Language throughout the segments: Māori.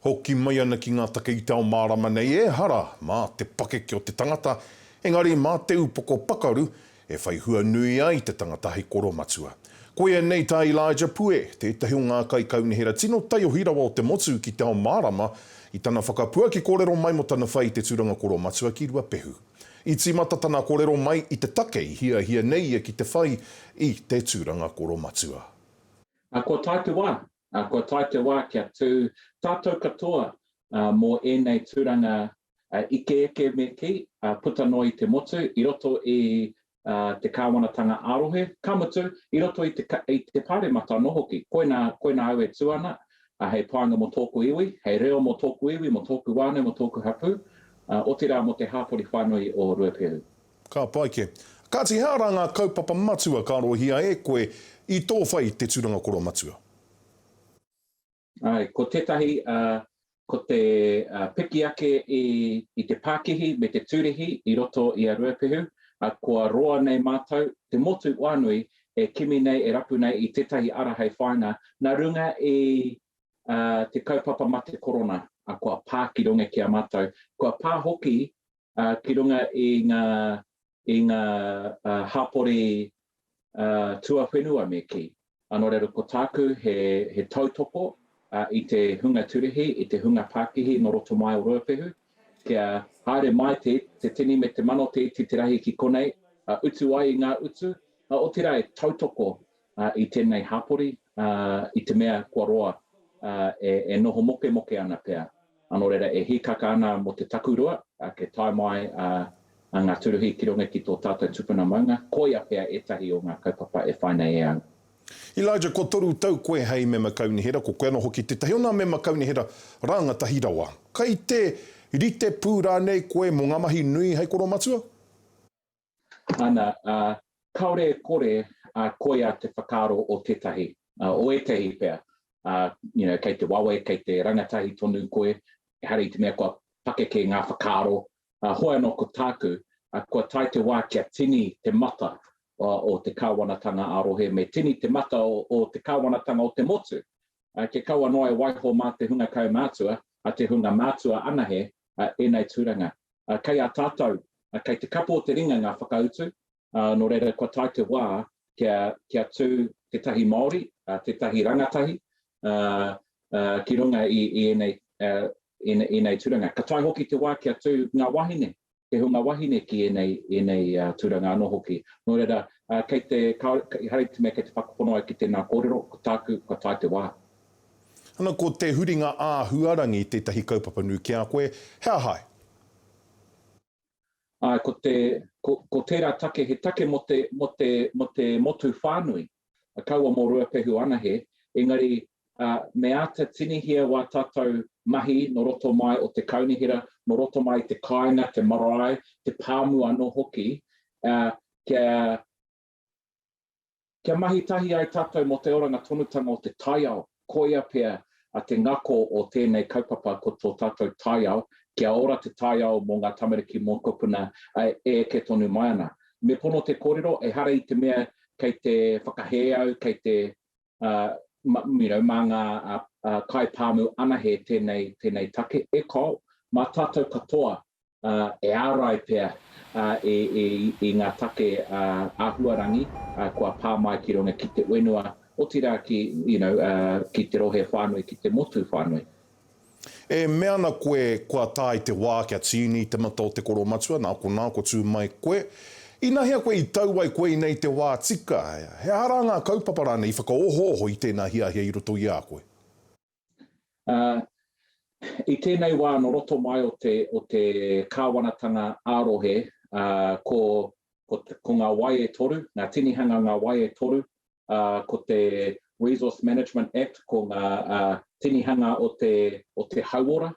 Hoki mai ana ki ngā take i te ao mārama nei, ehara mā te pakeke o te tangata, engari mā te upoko pakaru e whai hua nui ai te tangata hei koromatua. Koia nei tā Elijah Pue, tētahi o ngā kaikaunihera tino taiohi rawa o te motu ki te ao mārama, i tana whakapuaki kōrero mai mō tana whai i te tūranga koromatua ki Ruapehu. I tīmata tana kōrero mai i te take i hiahia nei ia ki te whai i te tūranga koromatua. Ā, kua tae te wā, Ā, kua tae te wā kia tū tātou katoa mō ēnei tūranga ike eke me kī, puta noa i te motu, i roto i te Kāwanatanga ā-rohe, ka mutu, i roto i te Pāremata anō hoki. Koinā, koinā au e tū ana, hei pānga mō tōku iwi, hei reo mō tōku iwi, mō tōku whānau, mō tōku hapū, otirā mō te hāpori whānui o Ruapehu. Ka pai ke. Kati he ara nga kaupapa matua ka arohia e koe i to whai te turanga koroa matua? Ae, ko tetahi ko te piki ake i te pakihi me te turihi i roto i a Ruapehu, a kua roa nei matou te motu oanui e kimi nei e rapu nei i tetahi ara hei whainga na runga i te kaupapa mate korona a kua pa ki runga ki a matou, kua pa hoki ki runga i ngā, i ngā hapori tuawhenua me kī. Nō reira ko tāku he, he tautoko i te hunga turihi, i te hunga pākihi nō roto mai o Ruapehu, kia haere mai te, te tini me te mano te iti te rahi ki konei, utu ai i ngā utu, otirā e tautoko i tēnei hapori, i te mea kua roa, e noho mokemoke ana pea, nō reira e hīkaka ana mō te takurua, kei tae mai ngā tūruhi ki runga ki tō tātou tupuna maunga, koia pea ētahi o ngā kaupapa e whai nei e au. Elijah, kua toru tau koe hei mema kaunihera, ko koe ana hoki tētahi o nā mema kaunihera rāngatahi rawa. Kai te rite pū rānei koe mō ngā mahi nui hei koromatua? ana, ā, kāore e kore a koia te whakaaro o tētahi, ā, o ētahi pea, ā, you know, kei te wawe, kei te rangatahi tonu koe, ehara i te mea kua pakeke ngā whakaaro, ā, hoi anō ko tāku, ā, kua tae te wā kia tini te mata o, o te Kāwanatanga ā-rohe, me tini te mata o, o te Kāwanatanga o te motu, ā, kia kaua noa e waiho mā te hunga kaumātua, ā, te hunga mātua anahe, ā, ēnei tūranga. Kei a tātou, kei te kapo o te ringa ngā whakautu, nō reira kua tae te wā kia tū tētahi Māori, tētahi rangatahi ki runga i ēnei tūranga. Ka tae hoki te wā kia tū ngā wāhine, te hunga wāhine ki ēnei tūranga anō hoki. Nō reira, kei te, ehara i te mea kei te whakapono au ki tēnā kōrero, ko tāku, kua tae te wā. Ana ko te huringa āhuarangi tētahi kaupapa nui ki a koe, he aha ai? Āe, ko te, ko, ko tērā take, he take mō te, mō te, mō te motu whānui, kaua mō Ruapehu anahe, engari, ā, me āta tinihia wā tātou mahi nō roto mai o te kaunihera, nō roto mai i te kāinga, te marae, te pāmu anō hoki, ā, kia, Kia mahi tahi ai tātou mō te oranga tonutanga o te taiao, koia pea a te ngako o tēnei kaupapa ko tō tātou taiao, kia ora te taiao mō ngā tamariki mōkopuna e eke tonu mai ana. Me pono te kōrero, ehara i te mea kei te whakahē au, kei te. mā ngā kaipāmu anahe tēnei take e kau, mā tātou katoa e ārai pea i ngā take āhuarangi kua pā mai ki runga ki te whenua, otirā ki te rohe whānui, ki te motu whānui. E mea ana koe kua tae te wā kia tīni i te mata o te koro matua, nā konā kua tū mai koe. Inahea koe i tau ai koe i nei te wā tika, he aha rā ngā kaupapa rānei i whakaohooho i tēnā hiahia i roto i a koe? Ā, i tēnei wā nō roto mai o te, o te kāwanatanga ā-rohe, ā, ko, ko, ko ngā wai e toru, ngā tinihanga ngā wai e toru, ko te Resource Management Act, ko ngā tinihanga o te, o te hauora,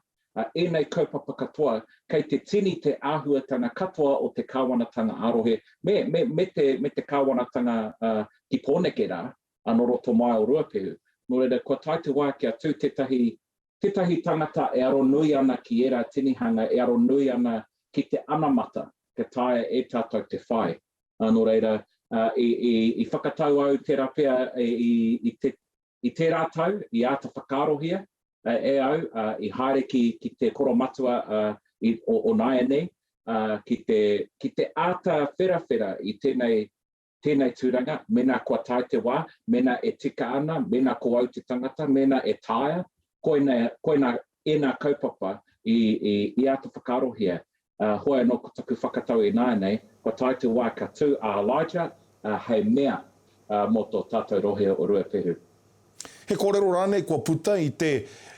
ēnei kaupapa katoa, kei te tini te āhuatanga katoa o te kāwanatanga ā-rohe, me, me, me te, me te kāwanatanga ki Pōneke rā, anō roto mai o Ruapehu. Nō reira, kua tae te wā kia tū tētahi tētahi tangata e aro nui ana ki ērā tinihanga, e aro nui ana ki te anamata, kia taea e tātou te whai. Ā, nō reira, i whakatau au tērā pea i tērā tau, i āta whakaarohia e au, i haere ki te koromatua o nāianei, ki te āta wherawhera i tēnei tēnei tūranga, mēnā kua tae te wā, mēnā e tika ana, mēnā ko au te tangata, mēnā e taea, koina, koina ēnā kaupapa i, i, i āta whakaarohia. Ā, hoi anō ko taku whakatau ināianei, kua tae te wā ka tū a Elijah, ā, hei mea, ā, mō tō tātou rohe o Ruapehu. He kōrero rānei kua puta i te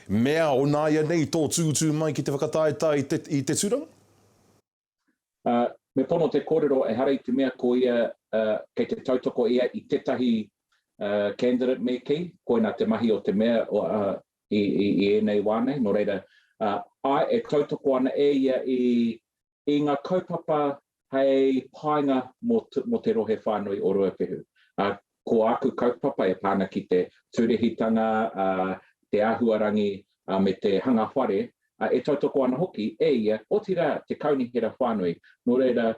mea o nāianei i tō tūtū mai ki te whakataetae i te, i te tūranga? Ā, me pono te kōrero ehara i te mea ko ia, ā, kei te tautoko ia i tētahi, ā, candidate me kī, koinā te mahi o te Mea, ā, i, i, i ēnei wā nei, nō reira, ā, āe, e tautoko ana e ia i, i ngā kaupapa hei painga mō, mō te rohe whānui o Ruapehu. Ā, Ko āku kaupapa e pā ana ki te tūrehitanga, te āhuarangi me te hanga whare, e tautoko ana hoki e ia, otirā te kaunihera whānui. Nō reira,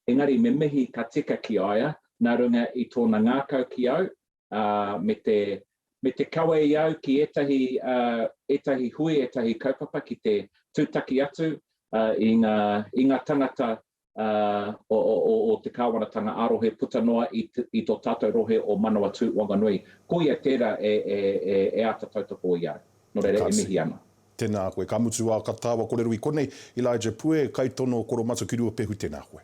engari me mihi ka tika ki a ia nā runga i tōna ngākau ki au me te kawe i au ki ētahi hui, ētahi kaupapa ki te tūtaki atu i ngā tangata o te Kāwanatanga ā-rohe puta noa i tō tātou rohe o Manawatū Wanganui. Koia tērā e āta tautoko i a au. Nō reira, e mihi ana. Tēnā koe. Ka mutu ā katawa korero i konei. Elijah Pue, Kaitono Koromatu ki Ruapehu, tēnā koe.